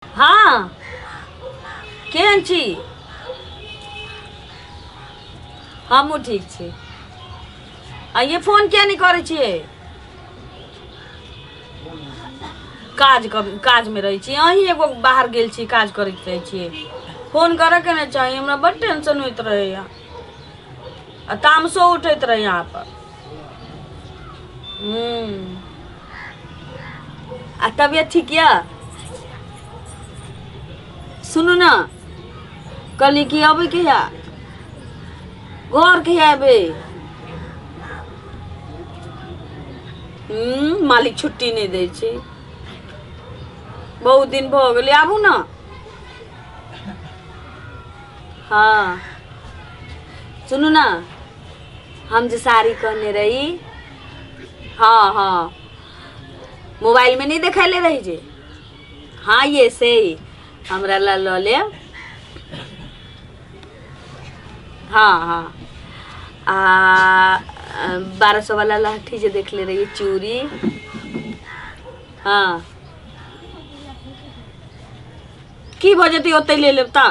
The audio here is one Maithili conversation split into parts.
हँ केहन छी हमहूँ ठीक छी आ ये फोन किया नहि करै छियै काज कर काजमे रहै छी अहीं एगो बाहर गेल छी काज करैत रहै छियै फोन करयके ने चाही हमरा बड्ड टेंशन होइत रहैए आ तामसो उठैत रहैए अहाँपर हूँ आ तबियत ठीक यऽ सुनू ने कहली कि अबै कहिया घर कहिया अबै हम्म, मालिक छुट्टी नहि दै छै बहुत दिन भऽ गेलै आबू ने हँ सुनू ने हम जे साड़ी कहने रही हाँ हाँ मोबाइल में नहीं देखले रही जे हाँ ये से ही हमरा ला लऽ ले हाँ हाँ आ बारह सौ वाला लहठी जे देखले रही चूड़ी हाँ की भऽ जेतै ओतै ले लेब तऽ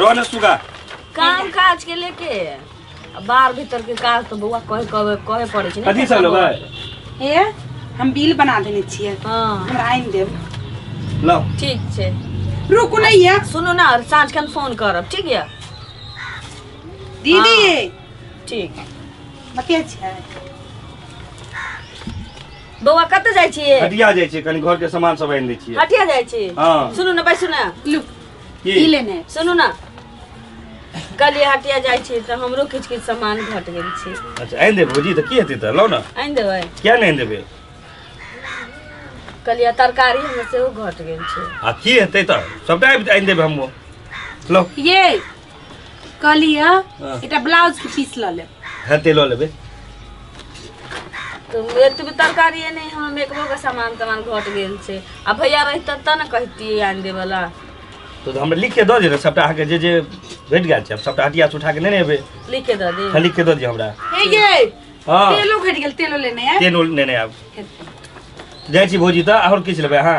रो ना सुगा काम काज के लेके आ बाहर भीतर के काज तो बौआ कहे कहे कहे पड़े छै कथी सब लेबै हे हम बिल बना देने छियै हां हमरा आनि देब लो ठीक छै रुकू ने ये सुनू ना और साँझ खन फोन करब ठीक यऽ दीदी हाँ। ठीक बतिया छियै बौआ कतऽ जाइ छियै हटिया जाइ छै कनी घर के सामान सब आनि दै छियै हटिया जाइ छी हँ। सुनू ना बैसू ना लू की ई लेने आयब। सुनू ना कलिया हटिया जाइ छी तऽ हमरो किछु किछु सामान घट गेल छै अच्छा आनि देबै भौजी तऽ की हेतै तऽ लौ ने आनि देबै किया नहि आनि देबै कलिया तरकारी हमर सेहो घट गेल छै आ की हेतै तऽ सबटा आबि- आनि देबै हमहूँ लौ ये कहली है हाँ। एटा ब्लाउज के पीस ल ले हाँ ते लो लेबे तो एतबे तरकारी है नहीं हम एकबो के सामान तमान घट गेल छै आ भैया रहित त न कहती आन दे वाला तो हम लिख के दो दे सबटा आके जे जे भेट गेल छै सबटा हटिया से उठा के लेने एबे लिख के द दे हाँ लिख के दो दियो हमरा हे ये हाँ तेलो घट गेल तेलो लेने है तेल लेने आब जाइ छी भौजी तऽ आओर किछु लेबै अहाँ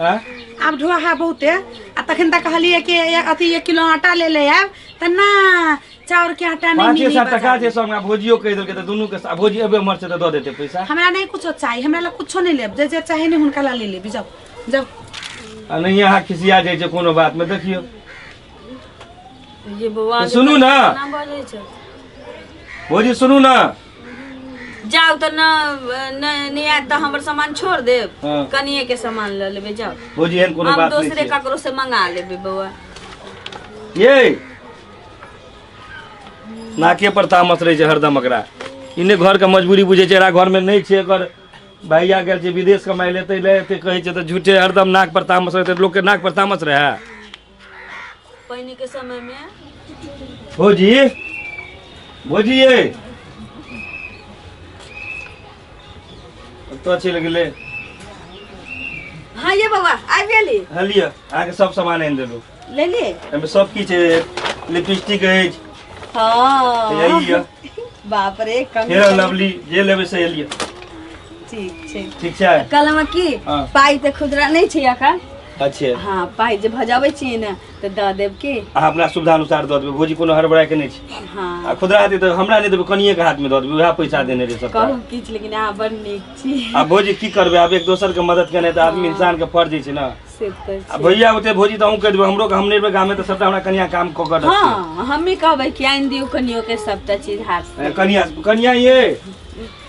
आँय? आब ढोआ है बहुते आ तखन तक कहलिए कि ए- अथी एक किलो आटा ले ले आब त ना चाउर के आटा नहीं पाँचे मिली सात टका बाजार। छै सौ हमरा भोजियो कहि देलकै तऽ दुनू के आ भोजी एबे हमर छै तऽ दऽ देतै पैसा हमरा नहीं कुछो चाहिए हमरा ला कुछो नहीं लेब जे जे चाहे नहीं हुनका ला ले लेबी जाओ जाओ आ नहि अहाँ खिसिया जाइ छै कोनो बातमे देखियौ ये बौआ सुनू ने ना बजै छै भोजी सुनू ने जाउ तऽ न न- नहि आयत तऽ हमर सामान छोड़ देब हाँ। कनिए के सामान लऽ लेबै जाउ भौजी एहन कोनो हम बात नहीं दोसरे छै ककरो से मंगा लेबै बौआ ये नाके पर तामस रहै छै हरदम एकरा इने घर के मजबूरी बुझै छै एकरा घर में नहीं छै एकर भैया गेल छै विदेश कमाइ ले तै ले एते कहै छै तऽ झूठे हरदम नाक पर तामस रहै लोग के नाक पर तामस रहै पानी के समय में भोजी भोजी ये अब तो अच्छी लग ले हाँ ये बाबा आ गेली हाँ लिया अहाँ के सब सामान आनि देलू ले लिए एहिमे सब किछु अछि लिपस्टिक अछि हाँ यही यऽ बाप रे कम फेयर एंड लवली जे लेबै से लिअ ठीक छै ठीक छै कल हम की हाँ। पाई ते खुदरा नहीं छै अखन अच्छे हाँ पाइ जे भजाबै छियै ने तऽ दऽ देब की अहाँ अपना सुविधा अनुसार दऽ देबै भौजी कोनो हड़बड़ाय के नहि छै आ हाँ खुदरा हेतै तऽ हमरा नहि देबै कनिए के हाथ में दऽ देबै उएह पैसा देने रहे सब कहू किछु लेकिन अहाँ बड़ नीक छी आ भौजी की करबै आब एक दोसर के मदद केनाइ तऽ आदमी इंसान के फर्ज होइ छै ने से तऽ आ छै। भैया होते भौजी तऽ अहूँ कहि देबै हमरो के हम नहि रहबै गामे तऽ सबटा हमरा कनिया काम कऽ कऽ रखतै हाँ हमी कहबै कि आनि दियौ कनियो के सबटा चीज हाथ से कनिया कनिया ये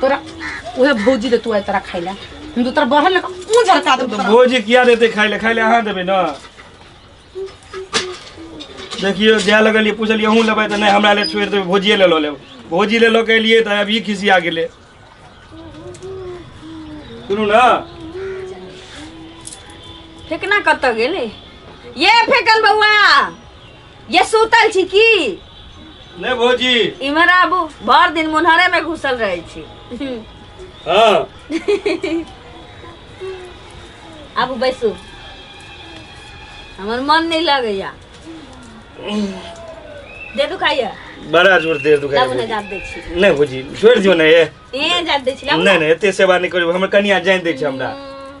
तोरा उहे भौजी दे तू आय तोरा खाइला हम तो तोरा बहन लगा ऊ झरका दे तो भोजी किया देते खाए ले खाए ले अहाँ देबै ने देखियो जाए लगलियै पूछलियै अहूँ लेबै तऽ नहि हमरा ले छोड़ि देबै भोजिए ले लऽ लेब भोजी ले लऽ के एलियै तऽ अब ई खिसिया गेलै सुनू ने फेकना कतऽ गेलै ये फेकन बौआ ये सुतल छी की ने भौजी इमहर आबू भर दिन मुन्हरे में घुसल रहे छी हाँ आबू बैसू हमर मन नहीं लगैया दे दुखाइया बड़ा जोर देर दुखाई लाबू ने भौजी। जात दै छी ने भौजी छोड़ दियो ने ये ए जात दै छी लाबू ने ने एते सेवा नहीं करू हमर कनिया जान दे छै हमरा हम्म,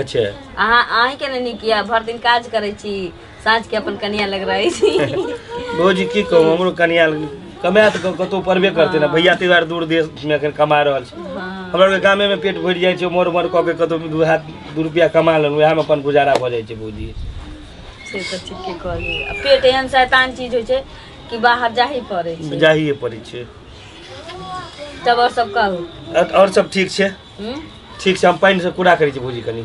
अच्छा अहाँ अहीं के ने नीक यऽ भर दिन काज करै छी साँझ के अपन कनिया लग रहै छी भौजी की कहू हमरो कनिया कमाए तऽ क- कतहु पड़बे करतै ने भैया ताहि दुआरे दूर देशमे एखन कमा रहल छै हाँ। हमरा आरके गामेमे पेट भरि जाइ छै मोर मोर कऽ के कतहु दू हाथ दू रुपैआ कमा लेलहुँ उएहमे अपन गुजारा भऽ जाइ छै भौजी से तऽ ठीके कहली आ पेट एहन शैतान चीज होइ छै कि बाहर जाही पड़ै छै जाहिए पड़ै छै तब और सब कहू अ- आओर सब ठीक छै हूँ? ठीक छै हम पानि से कूड़ा करै छी भौजी कनी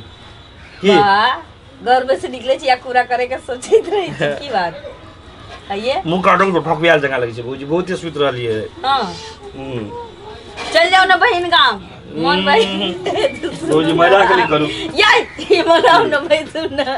की वाह, घर में से निकले छी या कूड़ा करे के सोचैत रहे छी की बात आइए मुँह काटो तो ठकबियाल जकाँ लगै छै भौजी बहुते सुति रहलियै हाँ हम्म। चल जाओ ना बहन गाँव मन भाई भौजी मजाक नहि करू यार ये मनाओ ना भाई सुन ना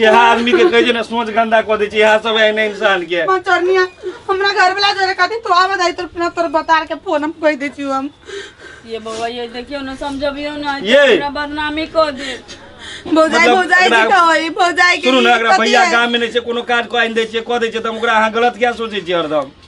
यह आदमी के कहे छै ना सोच गंदा क दे छै यह सब एहने इंसान के मां चरनिया हमरा घर वाला जोरे खातिर तो आवा दाई तोर ना तोर बतार के फोन हम कह दे छी हम ये बउआ ये देखियो ना समझबियो ना ये। हमरा बदनामी कर दे भौजाई मतलब भौजाई एकरा- की कहै भौजाई के सुनू ना एकरा पति भैया है। गाम में नहीं छै कोनो काज कऽ आनि दै छियै कऽ दै छियै तऽ हम ओकरा अहाँ गलत किया सोचै छियै हरदम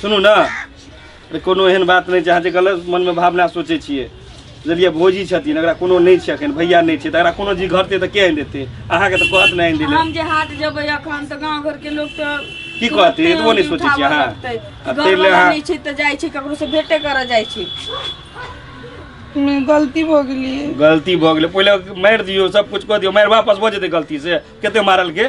सुनू ने अरे कोनो एहन बात नहि छै अहाँ जे गलत मनमे भावना सोचै छियै बुझलिए भोजी छथिन अगर कोनो नहीं छै अखन भैया नहीं छै तऽ अगर कोनो जी घर ते के आनि देतै अहाँके तऽ कहत नहि आनि देले हम जे हाट जेबै अखन तऽ गांव घर के लोग तऽ की कहते एतबो नहीं सोचै छी अहाँ तेल ले अहाँ नहीं छै तऽ जाइ छी ककरो से भेटे करऽ जाइ छी गलती भऽ गेलिए गलती भऽ गेलै पहिले मारि दियौ सब कुछ कऽ दियौ मारि वापस भऽ जेतै गलती से कते मारल के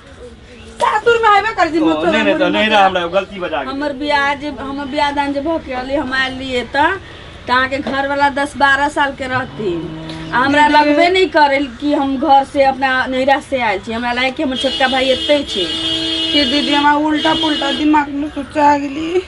सासुर में आइबे कर जी ओ, मतलब नहीं नहीं तो नहीं रहा हमरा गलती बजा गेल हमर बियाह जे हमर बियाह दान जे भऽ के रहलै हम आयल रहियै तऽ तऽ अहाँके घरवला दस बारह सालके रहथिन आ हमरा लगबे नहि करै कि हम घर से अपना नैहरा से आयल छी हमरा लागै कि हमर छोटका भाई एतै छै कि दीदी हमरा उल्टा पुल्टा दिमाग में सोचा गेली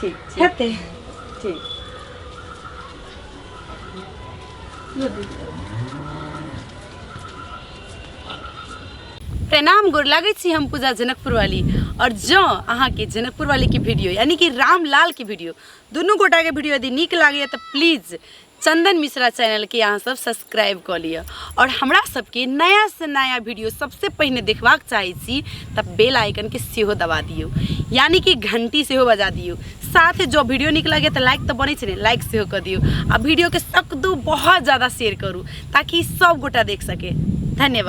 ठीक ठीक हेतै ठीक प्रणाम गोर लागै छी हम पूजा जनकपुर वाली और जँ अहाँके जनकपुर वाली के वीडियो यानी कि रामलाल के वीडियो दुनू गोटा के वीडियो यदि नीक लागैए तऽ प्लीज चंदन मिश्रा चैनल के अहाँ सब सब्सक्राइब कऽ लिअ आओर हमरा सबके नया से नया वीडियो सबसे पहिने देखबाक चाहै छी तऽ बेल आइकन के सेहो दबा दियौ यानी कि घंटी सेहो बजा दियौ साथ जो वीडियो नीक लगे तऽ लाइक तऽ बनै छै ने लाइक सेहो कऽ दियौ आ वीडियो के सकदू बहुत ज्यादा शेयर करू ताकि सब गोटा देख सके धन्यवाद